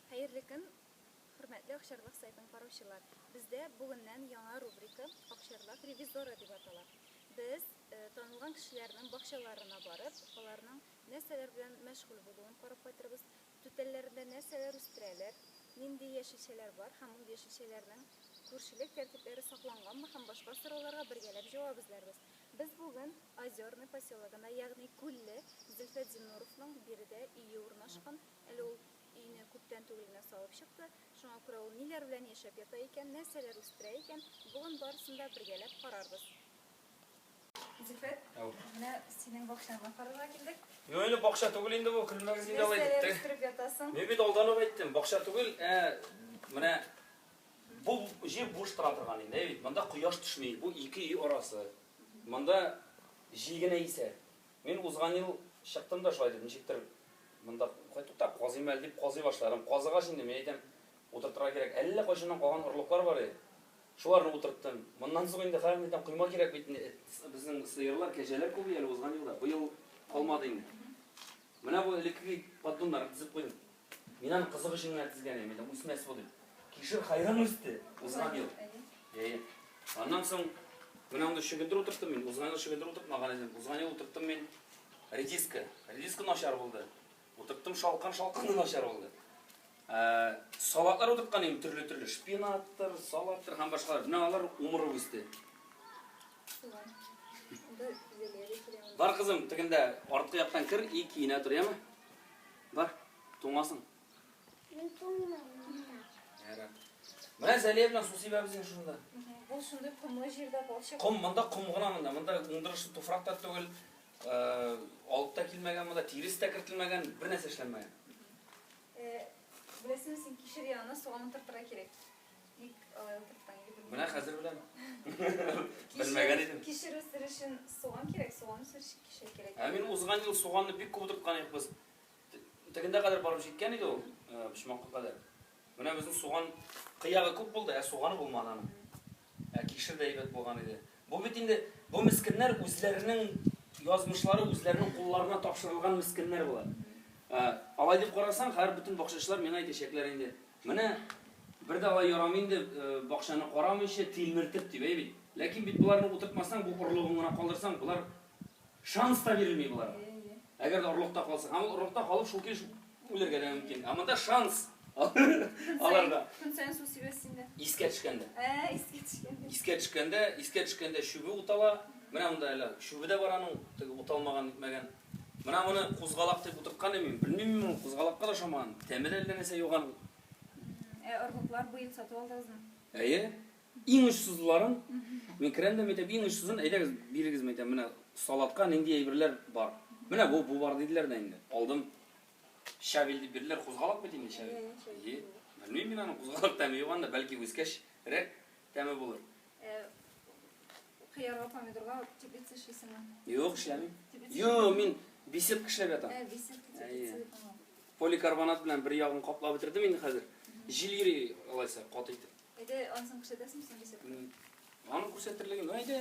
Хәерле көн, хөрмәтле Акчарлак сайтын караучылар! Бездә бүгеннән яңа рубрика Акчарлак ревизоры дип атала. Без танылган кешеләрнең бакчаларына барып, аларның нәрсәләр белән мәшгуль булуын карап кайтырбыз, түтәлләрендә нәрсәләр үстерәләр, нинди яшелчәләр бар һәм ул яшелчәләрнең күршелек тәртипләре сакланганмы һәм башка сорауларга бергәләп җавап эзләрбез. Без бүген Озерный поселогына, ягъни Күлле, Зөлфәт Зиннуровның биредә өе урнашкан Әле ул өенә күптән түгел генә салып чыкты, шуңа күрә ул ниләр белән яшәп ята икән, нәрсәләр үстерә икән, бүген барысын да бергәләп карарбыз. Зифет, менә синең бакчаңны карарга килдек. Юк инде, бакча түгел инде бу, көлмәгез инде алай дип. Нәрсәләр үстереп ятасың? Мин бит алдан ук әйттем, бакча түгел, ә менә бу җир буш тора торган инде, әйе бит, монда кояш төшми, бу ике өй арасы. Монда җил генә исә. Мин узган ел чыктым да шулай дип, ничектер монда кай тукта, казыйм әле дип казый башларым. Казыгач инде, мин әйтәм, утыртырга кирәк. Әллә кайчаннан калган орлыклар бар иде. Шуларны утырттым. Моннан соң инде хәзер әйтәм, койма кирәк бит инде. Безнең сыерлар, кәҗәләр күп иде әле узган елда. Быел калмады инде. Менә бу элеккеге поддоннарны тезеп куйдым. Мин аны кызык өчен генә тезгән идем, әйтәм, үсмәс бу дип. Кишер хайран үсте узган ел. Әйе. Аннан соң менә анда чөгендер утырттым мин. Узган ел чөгендер утыртмаган идем. Узган ел утырттым мин редиска. Редиска начар булды. Утырттым шалкан, шалкан да начар булды. Ә, салатлар утырткан идем төрле-төрле, шпинаттыр, салаттыр һәм башкалар. Менә алар умырып үсте. Бар кызым, тегендә арткы яктан кер и киенә тор, яме? Бар, туңасың. Мин туңмыйм монда. Ярар. Менә Зәлия белән су сибәбез инде шунда. Бу шундый комлы җирдә балчык. Ком, монда ком гына монда. Монда уңдырышлы туфрак та түгел. Э, алып та килмәгән монда, тирес тә кертелмәгән, бер нәрсә эшләнмәгән. Э, беләсеңме син кишер ягына суган утыртырга кирәк. Бик алай утырткан иде белмәдем. Менә хәзер беләм. Белмәгән идем. Кишер үстерү өчен суган кирәк, суган үстерү өчен кишер кирәк. Ә мин узган ел суганны бик күп утырткан идек без. Тегендә кадәр барып җиткән иде ул, э, почмакка кадәр. Менә безнең суган кыягы күп булды, ә суганы булмады аның. Ә кишер дә әйбәт булган иде. Бу бит инде, бу мескеннәр үзләренең язмышлары үзләренең кулларына тапшырылган мескеннәр болар. Алай дип карасаң, хәер бөтен бакчачылар миңа әйтәчәкләр инде, менә бер дә алай ярамый инде, бакчаны карамыйча, тилмертеп, дип, әй бит. Ләкин бит боларны утыртмасаң, бу орлыгын гына калдырсаң, болар Шанс та бирелми боларга. Әгәр дә орлыкта калса. Һәм ул орлыкта калып шул килеш үлергә дә мөмкин. Ә монда шанс аларга. Көн саен су сибәсез инде. Искә төшкәндә. Ә, искә төшкәндә. Искә төшкәндә, искә төшкәндә чүбе утала. Менә монда әле чүбе дә бар аның, теге уталмаган, итмәгән. Менә моны кузгалак дип утырткан идем мин. Белмим мин ул кузгалакка да ошамаган. Тәме дә әллә нәрсә юган. Ә орлыклар быел сатып алдыгызмы? Әйе. Иң очсызларын мин керәм дә әйтәм, иң очсызын әйдәгез, бирегез, мин әйтәм, менә салатка нинди әйберләр бар. Менә бу, бу бар диделәр дә инде. Алдым. Щавель дип бирделәр, кузгалак бит инде щавель. Е, белмим мин аны, кузгалак тәме юк анда, бәлки үскәч рәк тәме булыр. Кыярга, помидорга тибет эшлисеңме? Юк, эшләмим. Йо, мин беседка эшләп ятам. Ә, беседка тибет. Поликарбонат белән бер ягын каплап бетердем инде хәзер. Җил йөри алайса каты итеп. Әйдә, анысын күрсәтәсең син рецептны? Аны күрсәтерлеген, әйдә.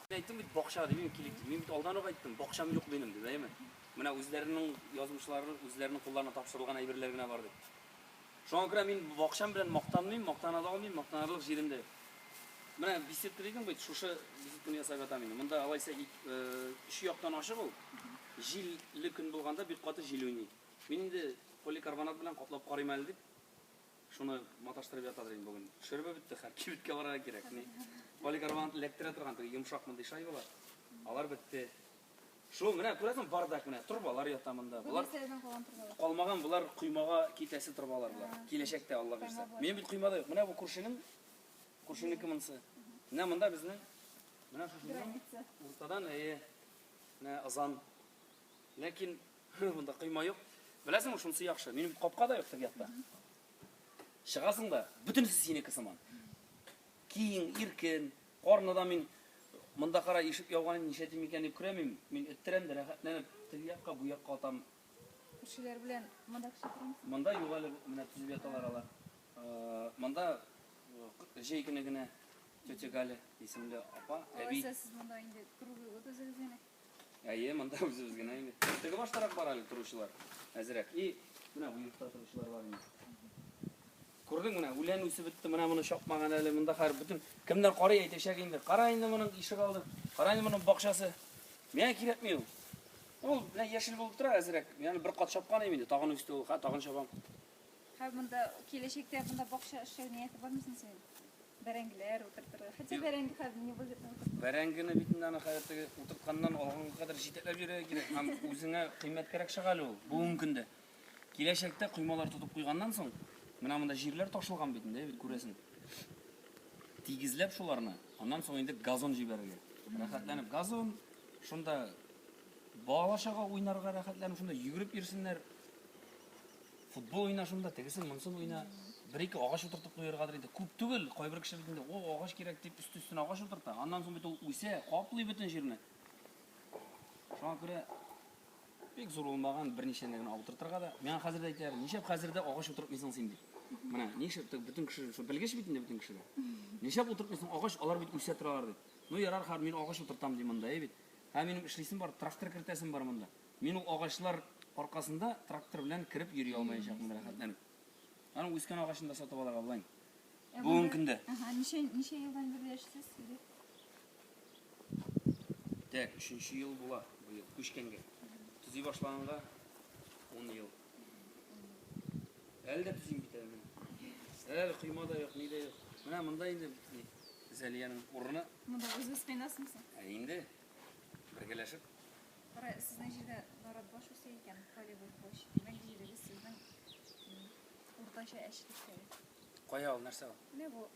Мин әйттем бит бакча дип, мин килик дип. Мин бит алдан ук әйттем, бакчам юк минем дип, әйме? Менә үзләренең язмышлары, үзләренең кулларына тапшырылган әйберләр генә бар дип. Шуңа күрә мин бакчам белән мактанмыйм, мактана да алмыйм, мактанарлык җирем дә юк. Менә беседка дидең бит, шушы беседканы ясап ятам инде. Монда алайса өч яктан ачык ул. Җилле көн булганда бик каты җил уйный. Мин инде поликарбонат белән каплап карыйм әле дип, шуны маташтырып ятадыр инде бүген. Шөребе бетте, хәер, кибеткә барырга кирәк. Ни, поликарбонат эләктерә торган теге йомшак мондый шайбалар. Алар бетте. Шул, менә күрәсең, бардак менә, торбалар ята монда. Бу нәрсәләрдән калган торбалар? Калмаган, болар коймага китәсе торбалар болар. Киләчәктә, Алла бирсә. Минем бит коймада юк. Менә бу күршенең, күршенеке монысы. Менә монда безнең, менә шушының уртадан, әйе, менә ызан. Ләкин монда койма юк. Беләсеңме, шунысы яхшы. Минем капка да юк теге якта. Чыгасың да, бөтенесе синеке сыман. Киң, иркен, карны да мин монда кара ишек яуган ничә тим икән дип күрәмим. Мин эттерәм дә рәхәтләнеп теге якка, бу якка атам. Күршеләр белән монда кеше тормый. Монда юк әле менә төзеп яталар алар. Э, монда э, җәй көне генә тетя Галя исемле апа, әби. Алайса сез монда инде круглый год үзегез генә. Әйе, монда үзебез генә инде. Теге баштарак бар әле торучылар. Әзрәк. И, менә бу йортта торучылар бар инде. Күрдең менә, үлән үсеп бетте, менә моны чапмаган әле. Монда хәр бөтен кемнәр карый әйтәчәк инде. Кара инде моның ишек алды. Кара инде моның бакчасы. Миңа кирәкми ул. Ул менә яшел булып тора әзрәк. Яны бер кат чапкан инде, тагын үсте ул. Ха, тагын чабам. Һәм монда киләчәктә монда бакча эшләү нияте бармы соң синең? Бәрәңгеләр утыртырга. Хәтта Юк. бәрәңге хәзер не выгодно утыртырга. Бәрәңгене бит инде аны хәзер теге утыртканнан алганга кадәр җитәкләп йөрергә кирәк һәм үзеңә кыйммәткәрәк чыга әле ул бүгенге көндә. Киләчәктә коймалар тотып куйганнан соң, менә монда җирләр ташылган бит инде, бит күрәсең. Тигезләп шуларны, аннан соң инде газон җибәрергә. Рәхәтләнеп газон, шунда Балалар чага уйнарга рәхәтләнеп шунда йөгереп йөрсеннәр. Футбол уйна шунда, тегесен, монсын уйна. Бер-ике агач утыртып куяргадыр инде. Күп түгел, кайбер кеше бит инде, о, агач кирәк дип өсте-өстенә агач утырта. Аннан соң бит ул үсә, каплый бөтен җирне. Шуңа күрә бик зур булмаган берничә генә утыртырга да. Миңа хәзер дә әйтәләр, нишләп хәзер дә агач утыртмыйсың син дип. Менә, нишләп бөтен кеше, шул белгеч бит инде бөтен кеше дә. Нишләп утыртмыйсың агач, алар бит үсә торалар дип. Ну ярар, хәзер мин агач утыртам ди монда, әй бит. Ә минем эшлисем бар, трактор кертәсем бар монда. Мин ул агачлар аркасында трактор белән кереп йөри алмаячакмын рәхәтләнеп. Аның үскән агачын да сатып алырга булайм. Бүгенге көндә. Ага, ничә ничә елдан бирле яшисез? Тәк, өченче ел була быел күчкәнгә. Төзи башлаганга 10 ел. Әле дә төзим бит әле. Әле койма да юк, ни дә юк. Менә монда инде Зәлиянең урыны. Монда үзе спинасың син. Ә инде бергәләшеп. Кара, сезнең җирдә нарат баш үсә икән, полевой площадь. Димәк, җирегез сезнең уртача әчлектәге. Кая ул, нәрсә ул? Менә бу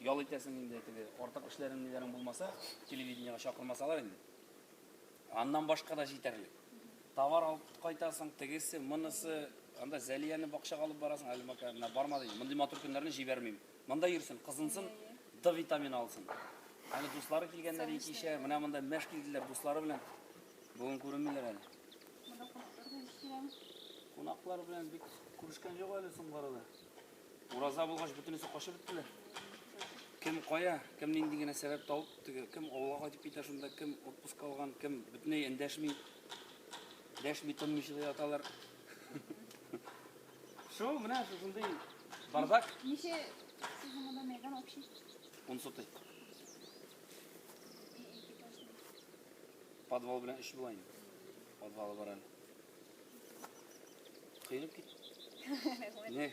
Ял итәсең инде, теге артык эшләрең ниләрең булмаса, телевидениега чакырмасалар инде. Аннан башка да җитәрлек. Товар алып кайтасың, тегесе, монысы, анда Зәлияне бакчага алып барасың, әле мака менә барма ди. Мондый матур көннәрне җибәрмим. Монда йөрсен, кызынсын, Д витамины алсын. Әле дуслары килгәннәр икечә, менә монда мәш килделәр дуслары белән. Бүген күренмиләр әле. Кунаклар белән бик күрешкән юк әле соңгы арада. Ураза булгач бөтенесе качып беттеләр. Кем кая, кем нинди генә сәбәп табып, теге кем авылга кайтып китә шунда, кем отпуск алган, кем бөтенләй эндәшми. Дәшми тынмыйча да яталар. Шул менә шушындый бардак. Ничә сез монда мәйдан общий? Он сотый. Подвал белән эш була инде. Подвалы бар әле. Кыйрып кит. Не?